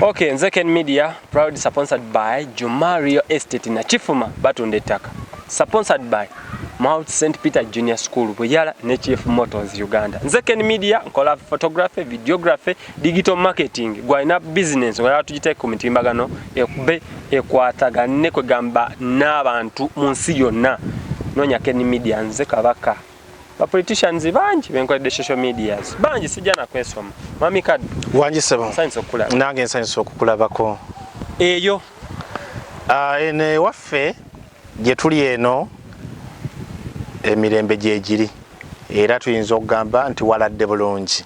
Okay, nze Ken Media proud sponsored by Juma Real Estate na Chifuma batunda ettaka. Sponsored by Mount St Peter Junior School Buyala ne Chief Motors Uganda. Nze Ken Media nkola photography, videography, digital marketing. Gwalina business wala tujite ku mitimbagano ekube ekwatagane kwegamba n'abantu mu nsi yonna. Nonya Ken Media nze kabaka. ba politicians bangi benkoledde social medias bangi sijja nakwesoma mami kadu wangi sebo nsanyusa okukulaba nange nsanyusa okukulabako eyo uh, ah, eno ewaffe gye tuli eno emirembe gyegiri era tuyinza okugamba nti waladde bulungi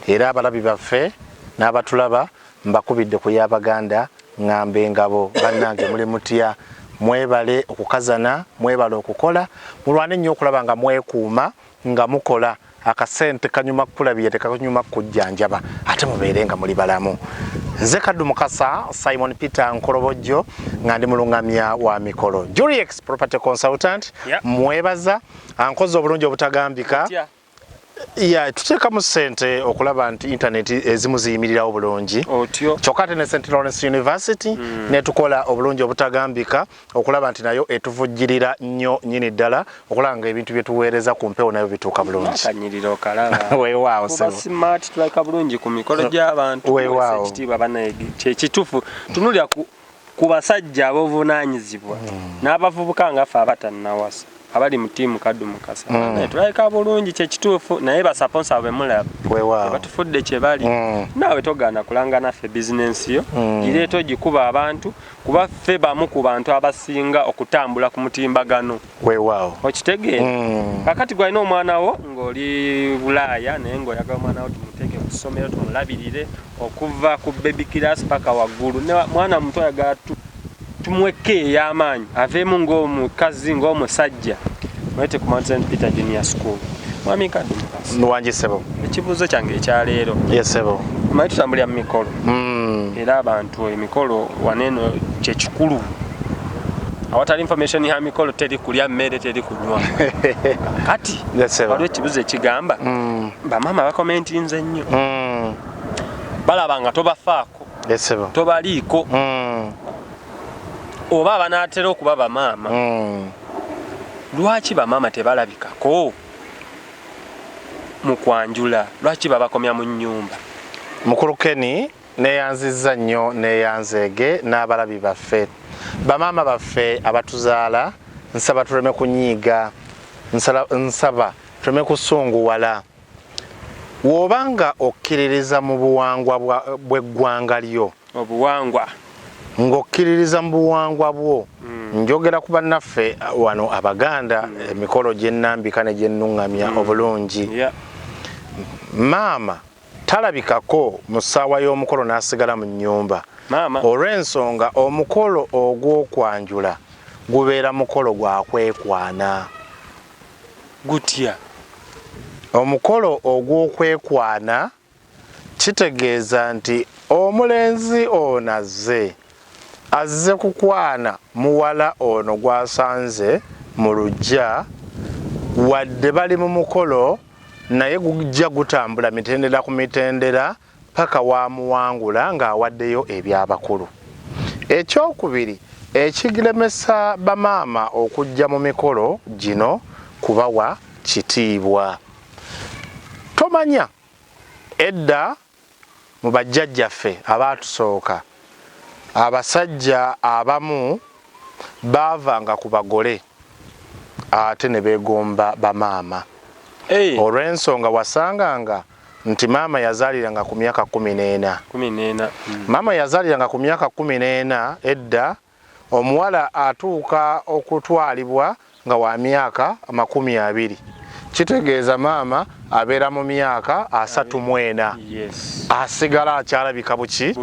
era abalabi baffe n'abatulaba Mbakubidde ku ya Baganda ngamba engabo banange muli mutya mwebale okukazana mwebale okukola mulwane nnyo okulaba nga mwekuuma nga mukola akasente kanyuma kukulabira tekakanyuma kukujjanjaba ate mubeere nga muli balamu nze kaddu mukasa simon peter nkolobojjo nga ndi mulungamya wa mikolo juriex property consultant yeah. mwebaza ankoze obulungi obutagambika yeah. ya tuteekamu ssente okulaba nti intaneti ezimu ziyimirirawo bulungi kyokka ate ne st lawrence university mm. netukola obulungi obutagambika okulaba nti nayo etuvujjirira nnyo nyini ddala okulaba nga ebintu byetuweereza ku mpewo nayo bituuka bulungiwewaawoekitufu tunulira ku basajja ab'obuvunaanyizibwa mm. n'abavubuka nga ffe abatannawasa abali mu tiimu kaddu mukasa mm. tulabika bulungi kyekituufu naye basaponsa bwe mulaba batufudde kye bali mm. naawe togaana kulanga naffe bizinensi yo gireeta ogikuba abantu kuba ffe bamu ku bantu abasinga okutambula ku mutimbagano weewaawo okitegeera mm. kakati gwalina omwana wo ng'oli bulaaya naye ng'oyagala omwana wo tumuteeke ku ssomero tumulabirire okuva ku baby class paka waggulu mwana muto ayagala tumwekka ey'amaanyi aveemu ng'omukazi ng'omusajja mwete ku mountain peter junior school mwami kadde nwangi sebo ekibuuzo kyange ekyaleero ye sebo manyi tutambulira mu mikolo mm. era abantu emikolo waneno kyekikulu awatali information ya mikolo teri kulya mmere teri kunywa kati waliwo ekibuzo ekigamba mm. bamaama bakomentinze ennyo mm. balaba nga tobafaako tobaliiko mm. oba abanatera okuba bamaama lwaki bamaama tebalabikako mukwanjula lwaki babakomya mu nyumba mukulu keni Neyanzizza nnyo neyanzeege n'abalabi baffe, bamaama baffe abatuzaala, nsaba tuleme kunyiiga, nsala, nsaba tuleme kusunguwala. W'oba nga okkiririza mu buwangwa bwa, bw'eggwanga lyo, Obuwangwa. ng'okkiririza mu buwangwa bwo, njogera ku bannaffe wano Abaganda, emikolo gye nnambika ne gye nnuŋŋamya obulungi. Yeah. Maama talabikako mu ssaawa y'omukolo n'asigala mu nnyumba olw'ensonga omukolo ogw'okwanjula gubeera mukolo gwa kwekwana gutya omukolo ogw'okwekwana kitegeeza nti omulenzi ono azze azze kukwana muwala ono gwasanze mu lujja wadde bali mu mukolo naye gujja gutambula mitendera ku mitendera paka wamuwangula ng'awaddeyo ebyabakulu. Ekyokubiri ekiglemesa bamaama okujja mu mikolo gino kubawa kitiibwa. Tomanya edda Mu bajjajjaffe abaatusooka, abasajja abamu baavanga ku bagole ate ne beegomba bamaama. Olw'ensonga wasanganga nti maama yazaaliranga ku myaka kkumi n'ena. Maama yazaaliranga ku myaka kkumi n'ena edda Omuwala atuuka okutwalibwa nga wa myaka amakumi abiri kitegeeza maama abeera mu myaka asatu mu ena asigala akyalabika buki?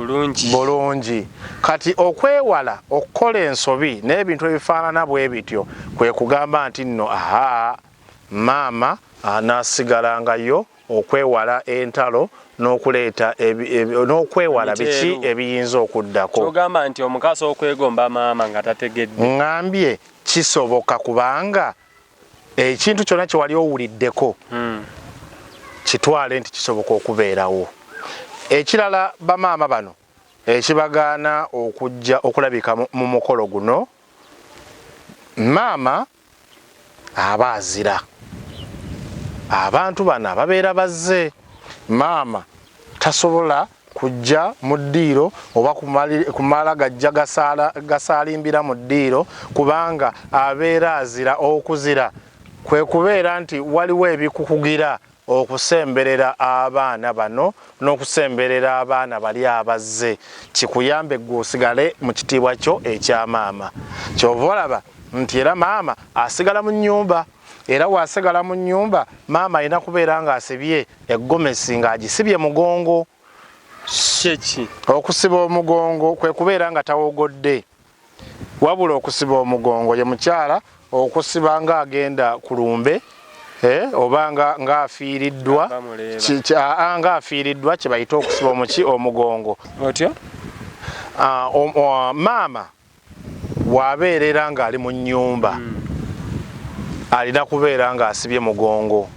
Bulungi. Kati okwewala okukola ensobi n'ebintu ebifaanana bwe bityo kwe kugamba nti nno, Ahaa, maama anaasigalangayo okwewala entalo n'okuleeta n'okwewala biki ebiyinza okuddako. Ky'ogamba nti omuko asobola okwegomba maama nga tategedde? Ŋŋambye kisoboka kubanga ekintu kyonna kye wali owuliddeko hmm. kitwale nti kisoboka okubeerawo. Ekirala bamaama bano ekibagaana okujja okulabika mu mukolo guno maama aba azira abantu bano ababeera bazze maama tasobola kujja mu ddiiro oba kumala gajja gasaalimbira mu ddiiro kubanga abeera azira okuzira kwe kubeera nti waliwo ebikukugira Okusemberera abaana bano n'okusemberera abaana bali abazze kikuyambe ggwe osigale mu kitiibwa kyo ekya maama. Ky'ova olaba nti era maama asigala mu nnyumba era bw'asigala mu nnyumba maama alina kubeera ng'asibye eggomesi ng'agisibye mugongo. Kye ki? Okusiba omugongo kwe kubeera nga tawogodde. Wabula okusiba omugongo ye mukyala okusiba nga agenda ku lumbe eh, oba nga afiiriddwa nga afiiriddwa kye bayita okusiba omuki omugongo otya ah, ah, maama wabeerera ng'ali mu nnyumba hmm. alina kubeera ng'asibye mugongo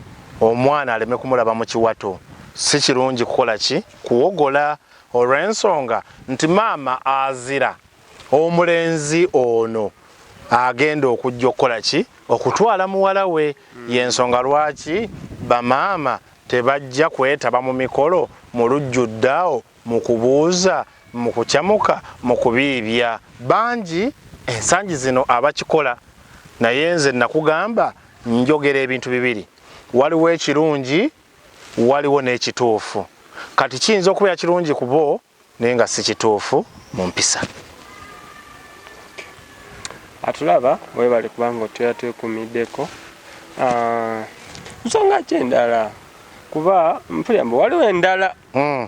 omwana aleme kumulaba mu kiwato si kirungi kukola ki kuwogola olw'ensonga nti maama azira omulenzi ono agenda okujja okukola ki okutwala muwala we hmm. y'ensonga lwaki bamaama tebajja kwetaba mu mikolo mu lujjuddaawo mu kubuuza mu kucamuka mu kubiibya bangi ensangi zino abakikola naye nze nakugamba njogera ebintu bibiri waliwo ekirungi waliwo n'ekituufu kati kiyinza okubeera kirungi ku bo naye nga si kituufu mu mpisa atulaba webale kubanga otubeera twekumiddeko ah, nsonga ki endala kuba mpulira mbu waliwo endala hmm.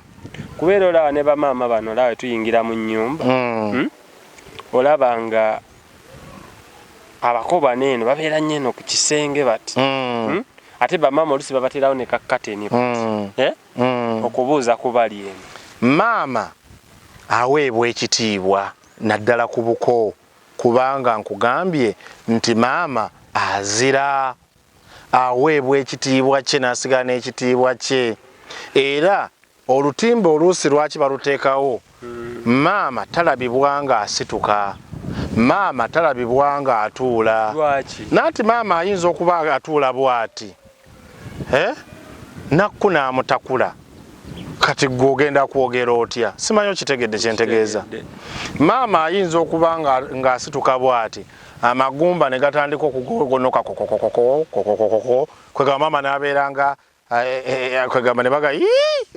kubeera olaba ne bamaama bano olaba tuyingira mu nyumba hmm. hmm? olaba nga abako bano eno babeera nnyo eno ku kisenge bati mm. hmm? ate bamaama olusi babaterawo ne kakateni mm. eh? mm. okubuuza ku bali eno maama aweebwa ekitiibwa naddala ku buko kubanga nkugambye nti maama azira aweebwa ekitiibwa kye n'asigala n'ekitiibwa kye era Olutimbe oluusi lwaki baluteekawo? Maama talabibwa nga asituka, maama talabibwa nga atuula. Lwaki? Nanti maama ayinza okuba atuula bwati eh Nakku n'amutakula. Kati ggwe ogenda kwogera otya? Simanyi okitegedde kye ntegeeza? Maama ayinza okuba nga ng'asituka bwati amagumba ne gatandika okugogonoka kokokokoko kokokokoko kwegamba maama n'abeera nga kwegamba ne baga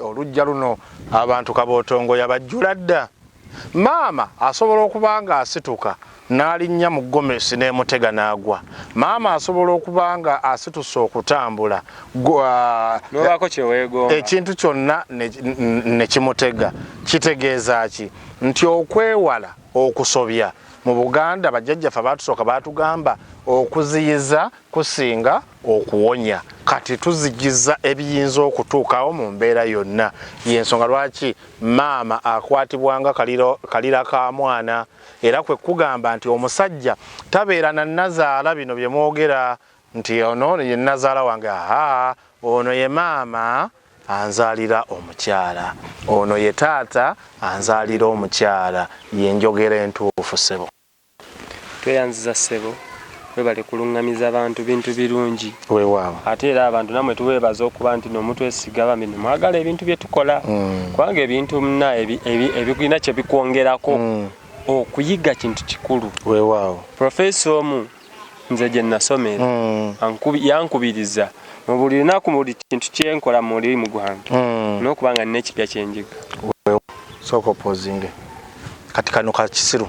olujja luno abantu kabootongo yabajjula dda maama asobola okuba nga asituka n'alinnya mu gomesi n'emutega n'agwa maama asobola okuba nga asituse okutambula ekintu kyonna ne kimutega kitegeeza ki nti okwewala okusobya mu buganda bajjajjaffe baatusooka baatugamba okuziyiza kusinga okuwonya kati tuzijiza ebiyinza okutuukawo mu mbeera yonna y'ensonga lwaki maama akwatibwa nga kalira ka mwana era kwe kugamba nti omusajja tabeera na nazaala bino bye mwogera nti ono ye nazaala wange aha ono ye maama anzaalira omukyala ono ye taata anzaalira omukyala ye njogera entuufu sebo Tweyanziza ssebo webale kulungamiza bantu bintu birungi Wewawo. ate era abantu namwe tubebaza okuba ntino mutwesiga bambi nemwagala ebintu byetukola kubanga ebintu mna ebirina kyebikwongerako okuyiga kintu kikulu Wewawo. Professor omu nze gye nasomera hmm. yankubiriza mu buli lunaku mu buli kintu kyenkola mu mulimu gwange hmm. n'okuba nga nina ekipya kyenjiga sooka opozinge kati kano kakisiru